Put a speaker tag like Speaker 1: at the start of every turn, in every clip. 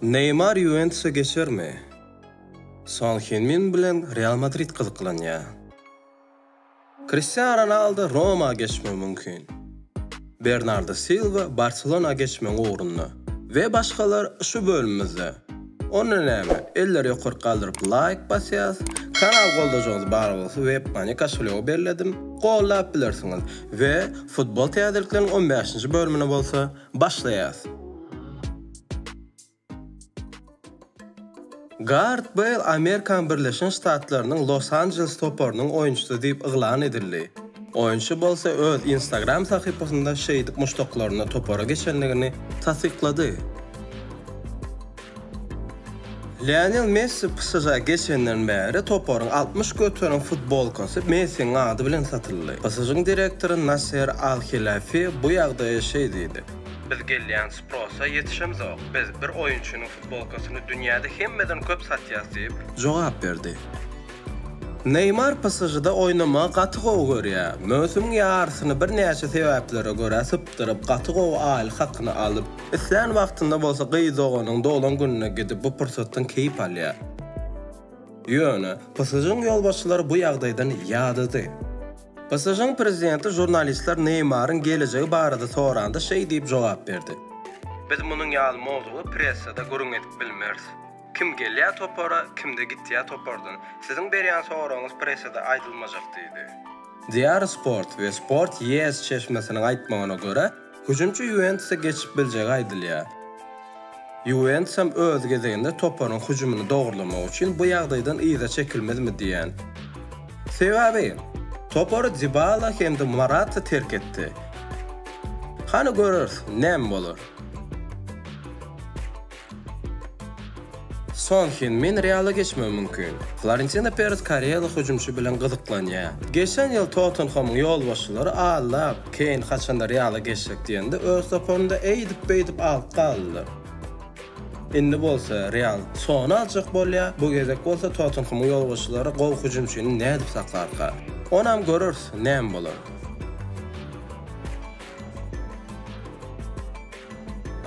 Speaker 1: Neýmar Ýuwentusa geçermi? Son Hin-Min bilen Real Madrid gyzyklanýar. Kristiano Ronaldo Roma geçmegi mümkin. Bernardo Silwa Barselona geçmegiň ugrunda we başgalar şu bölümimizde. Onda näme, elleri ýokaryk galdyryp laýk basýas, kanal goldajyňyz bar bolsa webmani koşelýogy belledim, gollap bilersiňiz we futbol täzelikleriniň on bäşinji bölümine bolsa Başlaýas. Gard Beýl Amerikan Birleşen Ştatlarynyň Los Anjeles toparynyň oýunçysy diýip yglan edildi. Oýunçy bolsa öz Instagram sahypasynda şeýdip muşdaklaryna topara geçendigini tassyklady. Lionel Messi PSŽ-ä geçenden bäri toparyň altmyş göterim futbolkasy Messiniň ady bilen satyldy. PSŽ-niň direktory Nasser Al-Helafi bu ýagdaýa şeý diýdi. Biz gelýän sprosa ýetişemzok. Biz bir oýunçynyň futbolkasyny dünýäde hemmeden köp satýarys diýip jogap berdi. Neýmar PSŽ-da oýnamagy gaty gowy görýär. Möwsümiň ýarysyny birnäçe sebäplere görä sypdyryp, gaty gowy aýlyk hakyny alyp, islän wagtynda bolsa gyz doganynyň doglan gününe gidip, bu pursatdan keýp alýar. Ýöne, PSŽ-niň ýolbaşçylary bu ýagdaýdan ýadady. PSŽ-niň prezidenti žurnalistler Neýmaryň gelejegi barada soranda şeý diýip jogap berdi. Biz munuň ýaly mowzugy pressada gürrüň edip bilmeris. Kim gelýä topara, kimde gitýä topardan. Siziň berýän soragyňyz pressede aýdylmajak diýdi. Diýar Sport we Sport ES çeşmesiniň aýtmagyna görä, hüjümçi Ýuwentusa geçip biljegi aýdylýar. Ýuwentus hem öz gezeginde toparyň hüjümini dogrulamagy üçin bu ýagdaýdan yza çekilmezmi diýýän. Sebäbi, topary Dibala hem-de Morata terk etdi. Hany göreris, näme bolar. Son Hen Min Reala geçmegi mümkin. Florentino Perez koreýaly hüjümçi bilen gyzyklanýar. Geçen ýyl Tottenhamyň ýolbaşçylary Allap, Keýn haçanda Reala geçjek diýende öz toparyny-da eýdip-beýdip alyp galdylar. Indi bolsa Real Sony aljak bolýar, bu gezek bolsa Tottenhamyň ýolbaşçylary gowy hüjümçini nädip saklarka? Onam göreris, näme bolar.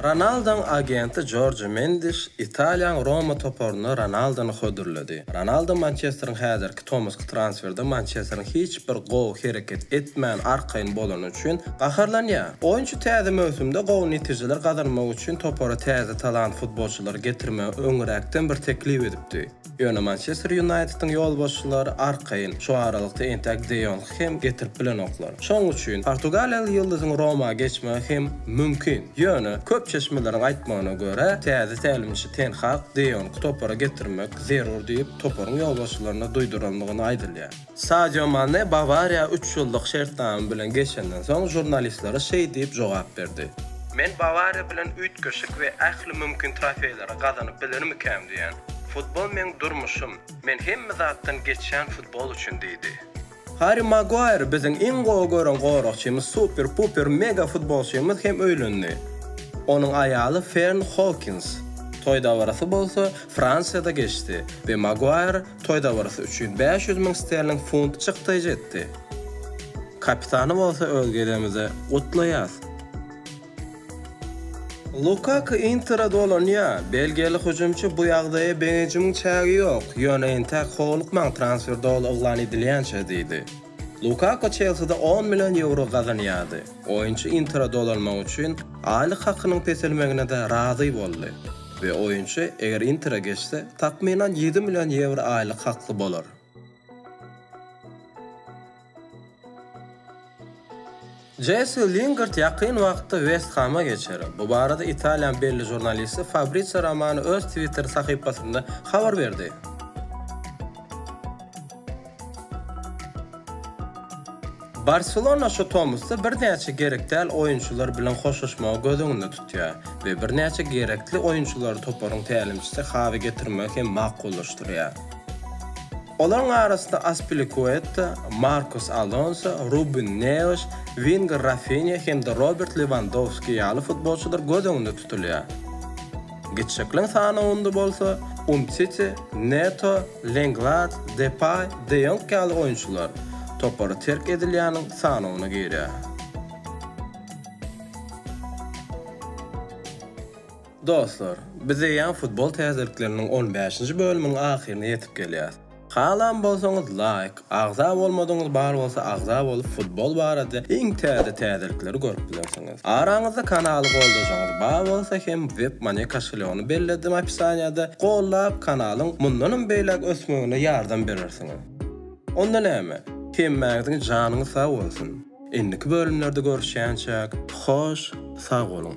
Speaker 1: Ronaldoň agenti Jorjo Mendiş Italiýaň Roma toparyna Ronaldony hödürledi. Ronaldo Mançesteriň häzirki tomusky transferde Mançesteriň hiç bir gowy hereket etmän arkaýyn bolany üçin gaharlanýar. Oýunçy täze möwsümde gowy netijeler gazanmak üçin topara täze talant futbolçylary getirmegi öňräkden bir teklip edipdi. Ýöne Mançester Ýunaýtediň ýolbaşçylary arkaýyn, şu aralykda entäk De Ýongy hem getirip bilenoklar. Şonuň üçin portugaliýaly ýyldyzyň Roma geçmegi hem mümkin. Ýöne, köp çeşmeleriň aýtmagyna görä, täze tälimçi Ten Hag De Ýongy topara getirmek zerur diýip, toparyň ýolbaşçylaryna duýdurandygyny aýdylýar. Sadio Mane Bawariýa üç ýyllyk şertnama bilen geçenden soň žurnalistlere şeý diýip jogap berdi. Men Bawariýa bilen üýtgeşik we ähli mümkin trofeýleri gazanyp bilermikäm diýýän. Futbol meň durmuşym. Men hemme zatdan geçýän futbol üçin diýdi. Harri Maguaýr biziň iň gowy gören goragçymyz, super-puper mega futbolçymyz hem öýlendi. Onuň aýaly Fern Hokins. Toý dabarasy bolsa Fransiýada geçdi we Maguaýr toý dabarasy üçin bäş ýüz müň sterling funt çykdaýjy etdi. Kapitany bolsa öz gezegimizde gutlaýas. Lukaku Intere dolanýar. Belgiýaly hüjümçi Bu ýagdaýa begenjimiň çägi ýok, ýöne entäk howlukmaň transfer doly yglan edilýänçä diýdi. Lukaku Çelside on million ýewro gazanýardy. Oýunçy Intere dolanmak üçin aýlyk hakynyň peselmegine-de razy boldy we oýunçy eger Intere geçse, takmynan ýedi million ýewro aýlyk hakly bolar. Jesse Lingard ýakyn wagtda West Hama geçer. Bu barada Italiýanyň belli žurnalisti Fabrizio Romano öz Twitter sahypasynda habar berdi. Barselona şu tomusda birnäçe gerek däl oýunçylar bilen hoşlaşmagy göz öňünde tutýar we birnäçe gerekli oýunçylary toparyň tälimçisi Hawi getirmegi hem makullaşdyrýar. Olaryň arasynda Aspilikueta, Markus Alonso, Rubin Neaş, wenger Rafinýa hem-de Robert Lewandowski ýaly futbolçylar göz öňünde tutulýar. Gitjekleň sanawynda bolsa Umtiti, Neto, Lenglet, Depay, De Ýong ýaly oýunçylar topary terk edilýäniň sanawyna girýär. Dostlar, biz eýýäm futbol täzelikleriniň on bäşinji bölümiň ahyryna ýetip gelýäs. Halan bolsaňyz laýk, agza bolmadyňyz bar bolsa agza bolup futbol barada iň täze täzelikleri görüp bilersiňiz. Araňyzda kanaly goldajaňyz bar bolsa hem webmoney koşelýogyny belledim opisaniýada, gollap kanalyň mundanam beýläk ösmegine ýardam berersiňiz. Onda näme, hemmäňiziň janyňyz sag bolsun! Indiki bölümlerde görüşýänçäk hoş sag boluň.